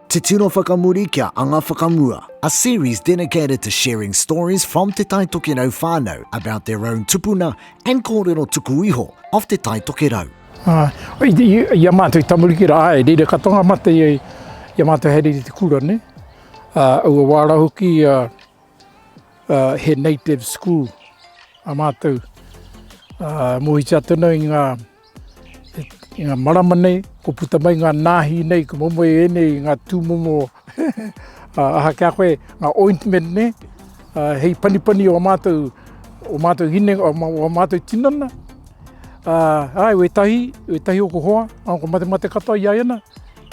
Te Tino Whakamuri kia Anga Whakamua A series dedicated to sharing stories from Te Tai Tokerau whānau about their own tupuna and kōrero tuku iho of Te Tai Tokerau. Āe, i a mātou i tamariki rā, āe, reira katoa ngā mate i a mātou haere i te kura nei. Aua wā rā hoki he native school a mātou. Mōhiti atu ana i ngā. I ngā marama nei, kua puta mai ngā nāhi nei, kua momo e ēnei i ngā tūmomo aha ki a koe, ngā ointment nei, hei panipani o ā mātou, o mātou hinengaro, o ā mātou tinana. Āe, wētahi, wētahi o kohoa, nā ko matemate katoa i a ia nā,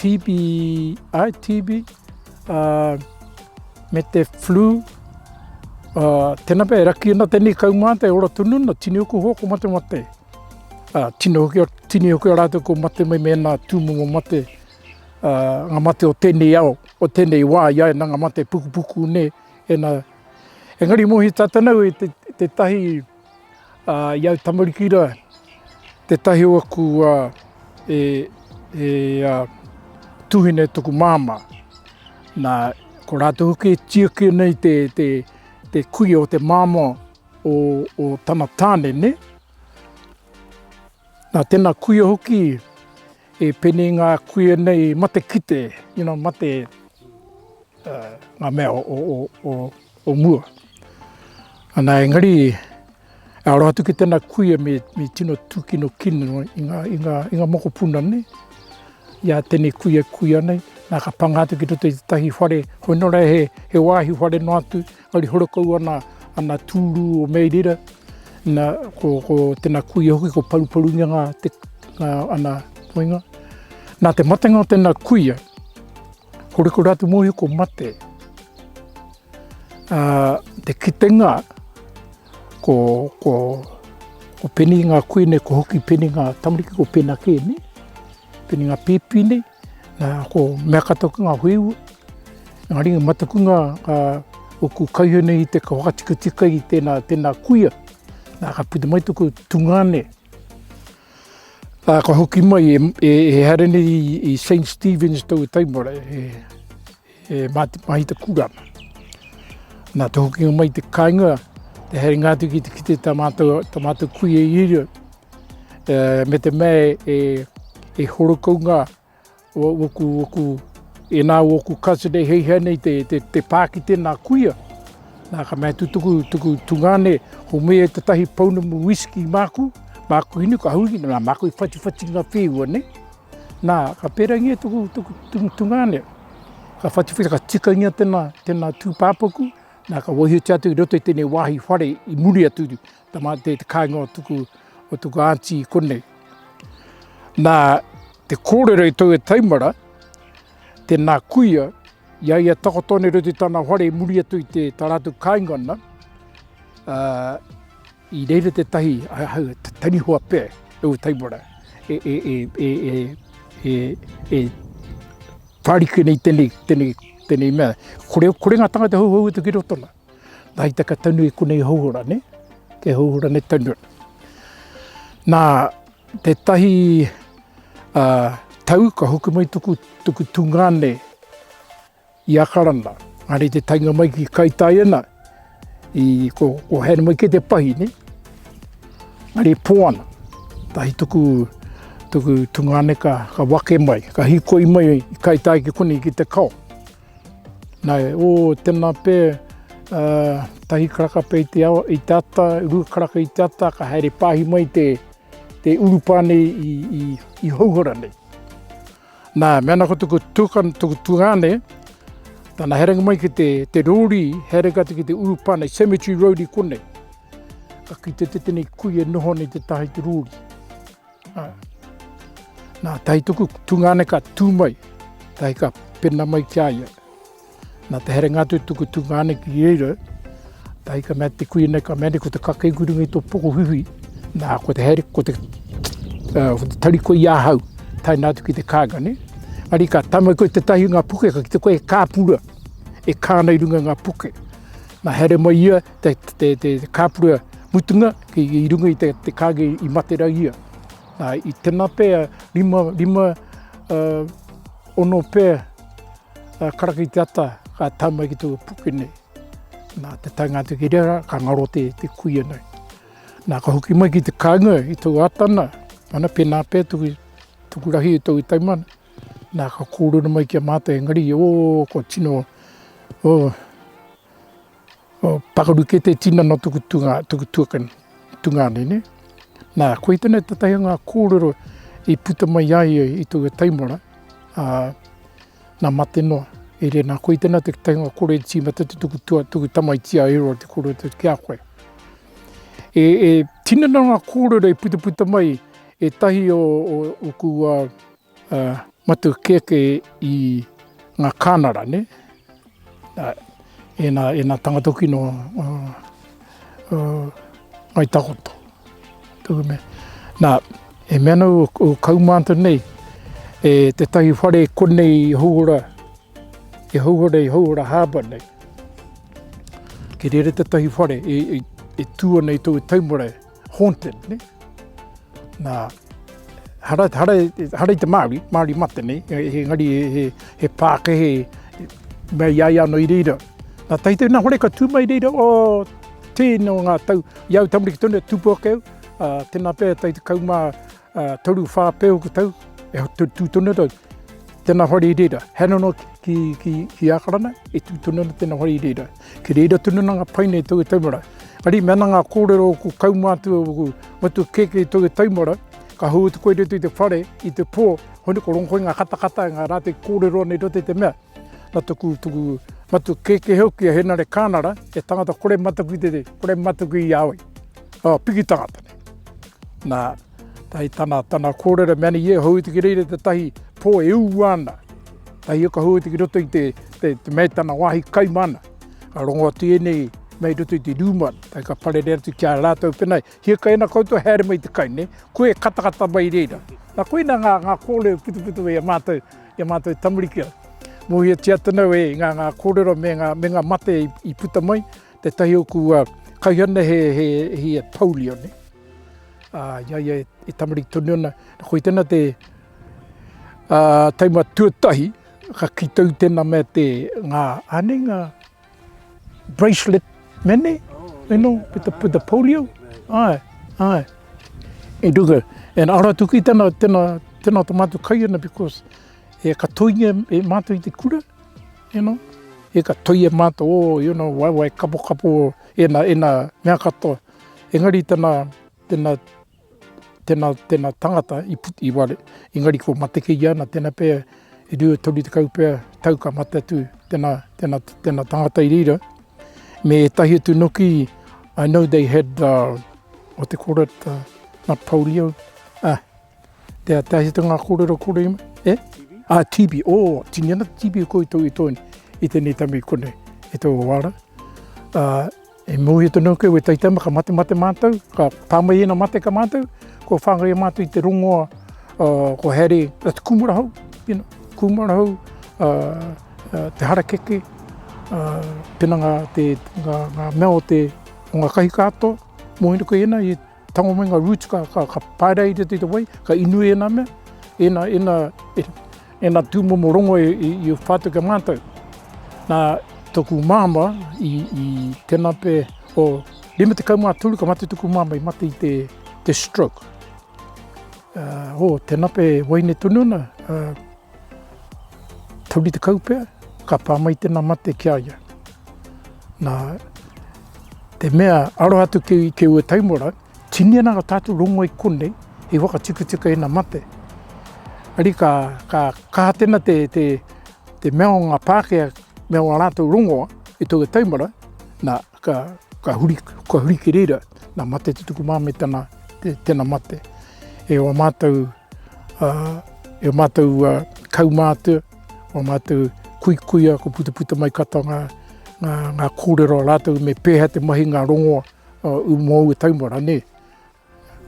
TB, āe, TB, me te flu, tēnā pea, e raki ana tēnei kaumātua e ora tonu ana, tini o kohoa ko matemate. Ā, tino hoki ā, tini hoki ā rātou kua mate mai mēnā tūmomo mate, ā, ngā mate o tēnei ao, o tēnei wā i a ia, nā ngā mate pukupuku nē, e nā. Engari mōhio tātou nau i te, tētahi, ā, i au tamariki rā, tētahi o aku, ā, e, e, ā, tūhine tōku māmā. Nā, ko rātou hoki e tiaki ana i te, te, te kuia o te māmā. o o tana tane ne. Na tena kuia hoki e pene nga kuia nei mate kite you know mate uh nga mea o o o o o mua. Ana engari e aro atu ki tena kuia me me tino tukino kino i nga i nga i nga mokopuna ne ia tene kuia kuia nei na ka panga atu ki roto i te tahi whare hoi nora he he wahi whare no atu Hari horakau ana ana tūrū o Mei Rira, na, ko, ko tena kuia hoki ko Paruparunia nga te, nga ana poinga. Na te matenga o tena kuia, ko Rekoratu Mohi ko mate. A, te kitenga, ko, ko, ko Peni nga kui nei, ko Hoki Peni nga tamariki, ko Pena ke nei, Peni nga pipi nei. Nā, ko mea katoa ki ngā wheu, ngā ringa matakunga ka uku kaihau nei i te whakatikatika i tēnā, tēnā kuia. Nā, ka puta mai tōku tungāne, ā, ka hoki mai e, e, e haere nei i, i St. Stephen's tōu taimara, e, E mā te mahi te kura. Nā te hokinga mai te kāinga, te haere ngā atu ki te kite tā mātou, tā mātou kui e iria. E, me te mē e, e horokau ngā woku, woku, e nā woku kāsa nei hei hea nei te, te, te pā ki tēnā kuia. Nā ka mea tutuku, tuku tungāne, ho me e tatahi pounamu whisky māku, māku hinu ka hui, nā māku i whatiwhati ngā whēua nei. Nā, ka pērangia tōku tungāne, ka whatuwhera, ka tikaingia tēnā, tēnā tūpāpaku, nā, ka waihotia atu i roto i tēnei wāhi whare i muri atu i tā mā te, te kāinga o tuku, o tuku āntī konei. Nā, te kōrero i tō e taimara, tēnā kuia, i a ia takoto nei roto i tāna whare i muri atu i te tā rātou kāinga ana, ā, I reira tētahi tanihoa pea e ua taimara e whāriki ana i tēnei mea. Kore ngā tāngata hauhau atu ki roto ana. Nā hei taka tonu i konei hauora nei, kei hauora nei tonu ana. Nā tētahi tau ka hoki mai tuku tūnga nei, I Akarana, engari te taenga mai ki Kaitaiana, i, ko, ko haere mai kē te pahi, nē. Engari e pō ana. Tahi tuku, tuku tungāne ka, ka wake mai, ka hikoi mai i Kaitai ki konei ki te kao. Nā, o, tēnā pē, uh, tahi karaka pē i te, awa, i te ata, rua karaka i te ata, ka haere pāhi mai te, te urupā nei i, i, i Hauhara nei. Nā, mēnā ko tuku tukana, tuku tungāne, tana herenga mai ki te, te rōrī, herenga atu ki te urupane, cemetery road i konei. Ka kite te tene kui e noho nei te taha i te rōrī. Nā, nā tahi tuku tungāne ka tū mai, tahi ka pena mai ki a ia. Nā te herenga atu tuku tungāne ki reira, tahi ka mea te kuina, ka mea nei, ko te kakei kurungi tō pokohuhui, nā, ko te here, ko te, uh, ko te tari koe i ahau, taina atu ki te kāga, ne? Ari ka tama koe te tahi ngā puke, ka ki te koe e kāpura, e kāna i runga ngā puke. Nā here mai ia, te, te, te, te, te kāpura mutunga, ki, i runga i te, te kāge i matera ia. Nā, i tena pēa, lima, lima, uh, ono pēa, Ka karaka i te ata, ka tau mai ki tōku puke nei. Nā, te taenga atu ki reira, ka ngaro te kuia nei. Nā, ka hoki mai ki te kāinga i tōku ata nā, ana pēnā pea tōku, tōku rahi i tōku taimana. Nā, ka kōrero mai ki a mātou engari, ō, kua tino, ō, Pakaru kē te tinana o tuku tuakana, tungāne. Nā, koe tēnei tētahi o ngā kōrero i puta mai ai i taua taimara, ā, nā mate noa. I reira, nā, koe tēnei tētahi o ngā kōrero i tīmata te tuku tuakana, tuku tamaiti a Eroa te kōrero tēnei ki a koe. E, e tinana ngā kōrero i putaputa mai, ētahi o, o, o kua Matu kēkē i ngā kānara, nē? Ēnā, ēnā tangata hoki nō Ngāi Takoto. Nā, e mea ana ū kaumātua nei, e tētahi whare konei i Houora, i Houora, i Houora Harbour nei. Kei reira tētahi whare e tū ana i tōu taumare. haunted, ne? Nā, hara, hara, hara i te Māori, Māori mate nei, engari he, he, he pākehe mea i ai ano i reira. Nā tahi tēnā hore ka tū mai reira, o, tēnō ngā tau, i au tamariki tonu e tūpu ake au, ā, tēnā pea e tai tekau mā, ā, toru whā pēhoki tau, e tū tonu ana tau, tēnā hoa riri rā, hea noa noa ki, ki, ki Ākarana, e tū tonu ana tēnā hoa riri rā. Kei reira tonu ana ngā pae nei i tō te tau mara. Arī, me ana ngā kōrero o kua kaumā atu au, matua kēkē i tō te tau mara, ka hou atu koe i roto i te whare, i te pō, hone kua rongo koe i ngā katakata, i ngā rā tē kōrero ana i roto i te mea. Nā toku, toku matua kēkē hoki a Henare Kānara, he tangata kore mataku i te, kore mataku i a au. Ā, piki tangata. Nā, tahi tana, tana kōrero mea ni ia hou tiki reira te tahi pō e ū ana, tahi o ka hou tiki roto i te, te, te mea tana wāhi kai mana, ka rongo atu ēnei mei roto i te rūma, tahi ka parere atu ki a rātou pēnei, hia kai ana koutou haere mai te kai, ne, koe e katakata mai reira. Nā koina ngā, ngā kōrero putuputu i a mātou, i a mātou tamariki. Mōhio tia tonu e ngā, ngā kōrero me ngā, me ngā mate i, i puta mai, Tētahi o kua kaihana he he polio nei. A ia ia e tamariki tonu ana, koe tena te a taima tuatahi ka kitau tena me te nga ane nga bracelet mene, you know, with the, with the polio. Ai, ai. E duga, and ara tuki tena, tena, tena ta matu kai ana because e ka toinge e matu i te kura, You know, e ka toi e mātou o, you know, waewae kapokapo, ena, ena, mea katoa. Engari tena, tena, tena, tena tangata i put, i ware, engari ko Matekeia ana, tena pea e rua e toru tekau pea tau ka mate atu tena, tena, tena tangata i reira. Me etahi atu noki, I know they had, uh, what they called it, uh, not polio, ah, Te Atahi te ngā kōrero kore i mai, e? Ā, Tibi, ō, tini ana te tibi i koutou i tō i tēnei tami konei, e tō wāra. Ā, e mōhio tonu au kei wētai tama ka mate mate mātou, ka pā mai ēnā mate ka mātou, kua whāngaia mātou i te rongoa ko Harry, a te kūmara hou, you know, kūmara hou, te harakeke, tēnā ngā, ngā, ngā mea o te, o ngā kahi kātoa, mōhio koe ēnā i. Tango me nga roots ka paereira i te wai, ka inu i ena mea, ena, ena, ena tumomo rongo i whatu kia matou. Na toku mama i tena pe o rima tekau ma tolu ka mate toku mama i mate i te stroke. Ho, tena pe waine tonu ana. Tauri tekau pea, ka pā mai tēnā mate ki a ia. Nā te mea aroha atu ki, ki ua taimora, tini ana ngā tātou rongo i konei hei whakatikatika ēnā mate. Ari ka, ka kaha tēnā te, te, te mea o ngā Pākehā, mea o ā rātou rongoa i te ua taimora, nā, Ka, ka huri, ka huri ki reira, nā mate te tuku māmē tana, te, tena mate. E o mātou, ā, e o mātou ā, kaumātua, o mātou kuikuia, ko putaputa mai katoa ngā, ngā, ngā kōrero a rātou me pēhea te mahi, ngā rongoa, ū, mō ū taumara, nē.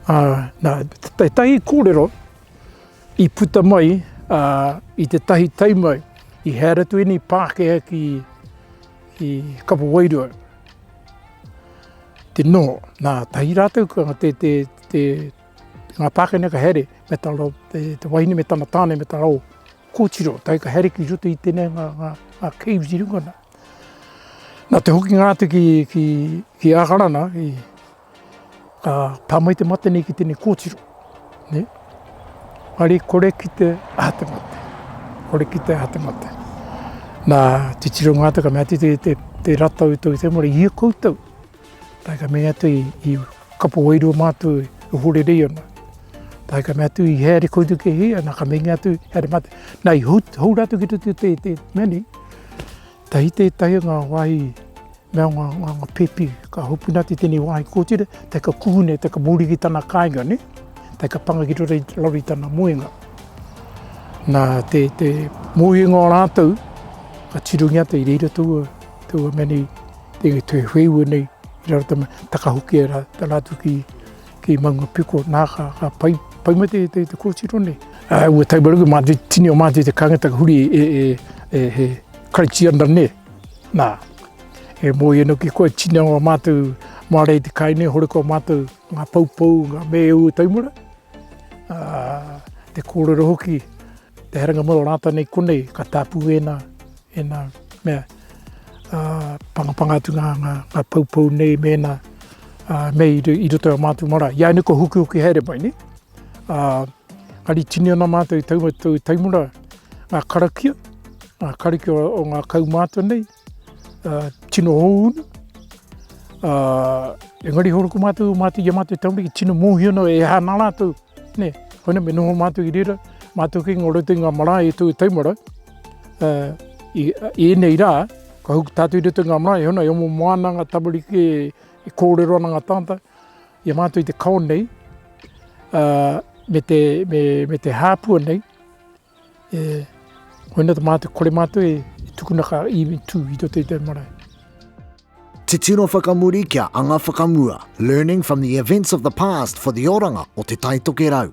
Ā, nā tētahi kōrero i puta mai i tētahi taima i haere atu ēnei Pākehā ki Kapa Wairua, te noho. Nā, tahi rātou ka, te, te, te, ngā Pākehā ka haere me tā rā, te, te wahine me tana tāne me tā rā, kōtiro, tahi ka haere ki roto i tēnei ngā, ngā, ngā caves i runga nā. Nā te hokinga atu ki, ki, ki Ākarana, i, Ka tā mai te mate nei ki tēnei kōtiro, ne? Ari kore ki te aha te mate, kore ki te aha te mate. Nā, titiro ngā taka mea te, te, te, te ratau tau te mora, ia koutou. Tā ka mea atu i, i kapo wairua mātou e horerei ana. Tā ka mea atu i heare koutou ke hea, nā ka mea atu, heare mate. Nā, i hou, hou rātou ki te, te, te, te mea nei, Tahi tētahi o ngā wāhi me o ngā ngā pēpi ka hopu nā te tēnei wāhi kōtira, tae ka kuhu nei, tae ka muri ki tana kāinga nei, tae ka panga ki roto i te laro i tana moenga. Nā te, te moenga o rātou, ka tirongi ata i reira taua, taua mea nei, te, te wheiua nei, i raro tama, takahokia rā, tā rātou ki, Ki Mangapiko, nā, ka, ka pai, pai mai te, te, te kōtiro nei. Uh, ua taumaruku mā te tini o mātou te kāngata ka huri e, e, e, he Karaitiana nei. Nā, e mōi anō ki koe, tini o mātou māre i te kai nei, hore ko mātou ngā poupou, ngā mēu taumura. Uh, te kōrero hoki, Te haerenga mai o rātou nei konei ka tāpū ēnā, ēnā mea ā, pangapanga atu ngā, ngā, ngā poupou nei me ēnā ā, me i, i roto i a mātou marae. Ia nei kua hukihuki haere mai, nē? Ā, engari tini ana mātou i taua taimura, ngā karakia, ngā karakia o ngā kaumātua nei, tino hounu, engari horo ko mātou, mātou i a mātou tamariki tino mōhio ana e aha ana rātou, nē. Koinā me noho mātou i reira, mātou kei ngā roto i ngā marae e tō tau marau, i ēnei rā, ka hoki tātou i roto i ngā marae, hei ona e omo moa ana ngā tamariki e kōrero ana ngā tāngata i a mātou i te kao nei, me te hāpua nei, E hoina te mātou, kore mātou e tukuna ka iwi tū i roto i te marae. Titiro whakamuri kia anga whakamua, learning from the events of the past for the oranga o Te Taitokerau.